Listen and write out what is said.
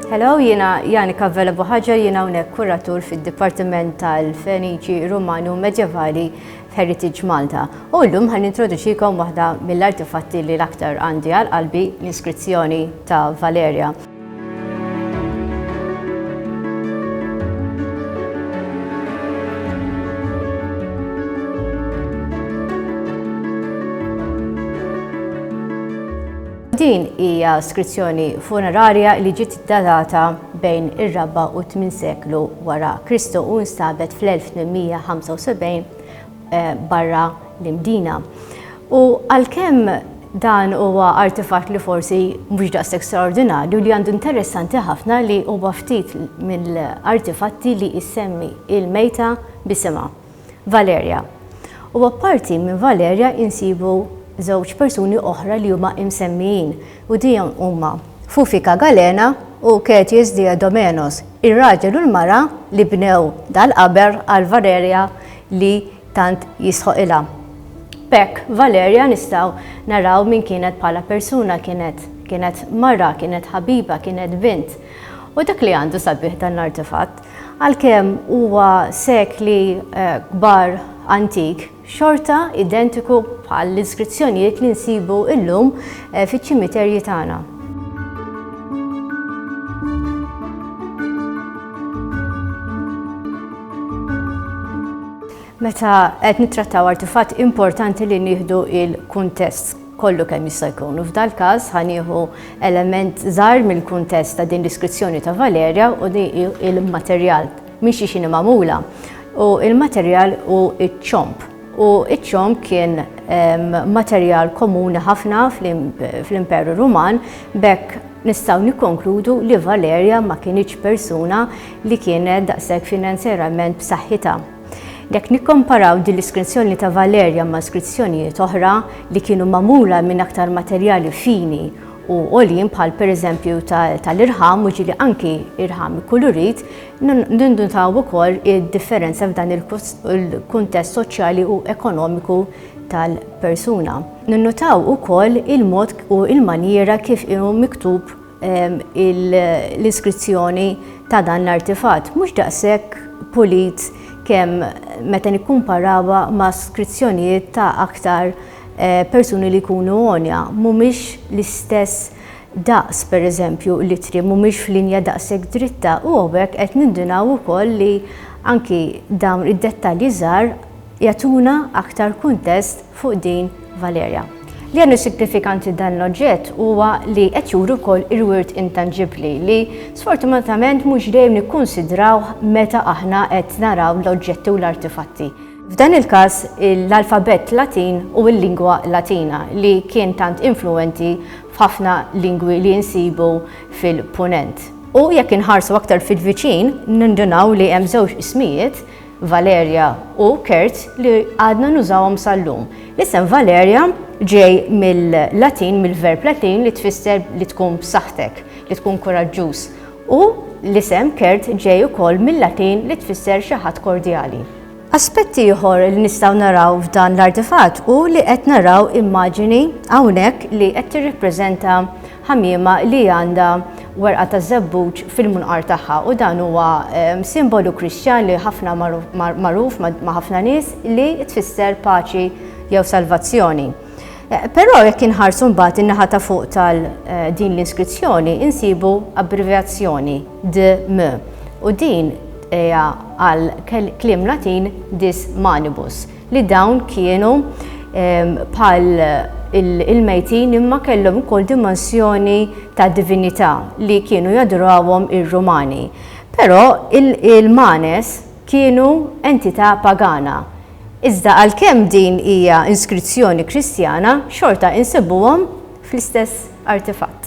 Hello, jina Jani Kavvela Buħagġa, jina unek kuratur fil-Dipartiment tal-Feniċi Romani u Medjevali Heritage Malta. U l-lum għan introduċikom waħda mill-artifatti li l-aktar għandi għal-qalbi l-iskrizzjoni ta' Valeria. Din hija skrizzjoni funerarja li ġiet datata bejn ir-raba' u t-tmin seklu wara Kristu u nstabet fl-1875 barra l-Imdina. U għalkemm dan huwa artifatt li forsi mhux daqshekk straordinarju li għandu interessanti ħafna li huwa ftit mill-artifatti li jsemmi il-mejta b'isimha, Valerja. U apparti minn Valerja insibu żewġ persuni oħra li huma imsemmijin u dihom huma Fufika Galena u Ketius Diadomenos, ir-raġel u l-mara li bnew dal-qaber għal Valerja li tant jistħoqilha. B'hekk Valerja nistgħu naraw min kienet bħala persuna, kienet kienet mara, kienet ħabiba, kienet bint. U dak li għandu sabiħ dan l-artefatt, għalkemm huwa sekli eh, kbar antik, xorta identiku bħal l-iskrizzjonijiet li nsibu illum fiċ-ċimiterji tagħna. Meta qed nittrattaw artifatt importanti li nieħdu il-kuntest kollu kemm jista' jkun. U f'dal-każ ħanieħu element żgħar mill-kuntest ta' din l-iskrizzjoni ta' Valerja u di il-materjal Mhix xini magħmula u l-materjal hu ċ-ċomb u ċ-ċomb kien materjal komuni ħafna fl-Imperu Ruman b'hekk nistgħu nikkonkludu li Valerja ma kinitx persuna li kienet daqshekk finanzjarament b'saħħitha. Jekk nikkomparaw din l-iskrizzjoni ta' Valerja ma' skrizzjonijiet oħra li kienu magħmula minn aktar materjali fini u għoljin bħal pereżempju tal-irħam u ġieli anki irħam ikkulurit, Ninnutaw ukoll id-differenza f'dan il-kuntest soċjali u ekonomiku tal-persuna. Ninnutaw ukoll il-mod u l-manjiera kif hu miktub l-iskrizzjoni ta' dan l-artifatt, mhux daqshekk pulit kemm meta nikkumparawha ma' skrizzjonijiet ta' aktar persuni li jkunu għonja, mhumiex l-istess daqs, pereżempju, l-ittri mhumiex f'linja daqshekk dritta u hawnhekk qed nindunaw ukoll li anki dawn id-dettalji żgħar jagħtuna aktar kuntest fuq din Valerja. Li jagħmel sinifikanti dan l-oġġett huwa li qed juri wkoll il-wirt intanġibbli li sfortunatament mhux dejjem nikkunsidrawh meta aħna qed naraw l-oġġetti u l-artifatti. F'dan il-każ l-alfabett Latin u l-lingwa Latina li kien tant influwenti f'ħafna lingwi li nsibu fil-Punent. U jekk inħarsu aktar fil-viċin, nindunaw li hemm żewġ ismijiet, Valerja u Kert, li għadna nużawhom sal-lum. L-isem Valerja ġej mill-Latin, mill-verb Latin li tfisser li tkun b'saħħtek, li tkun kuraġġuż. U l-isem Kert ġej ukoll mill-Latin li tfisser xi ħadd kordjali. Aspett ieħor li nistgħu naraw f'dan l-artifatt hu li qed naraw immaġini hawnhekk li qed tirrappreżenta ħamiema li għandha werqa ta' żebbuġ fil-munqar tagħha u dan huwa ehm, simbolu Kristjan li ħafna magħruf ma' ħafna nies li tfisser paċi jew salvazzjoni. Però jekk inħarsu mbagħad in-naħa ta' fuq tal din l-inskrizzjoni insibu abbrevjazzjoni DM u din hija għal kliem Latin dis manibus li dawn kienu bħal il-mejtin imma kellhom ukoll dimensjoni ta' divinità li kienu jadurawhom ir-Rumani. Però il-manes kienu entità pagana, iżda għalkemm din hija inskrizzjoni Kristjana, xorta insibuhom fl-istess artifatt.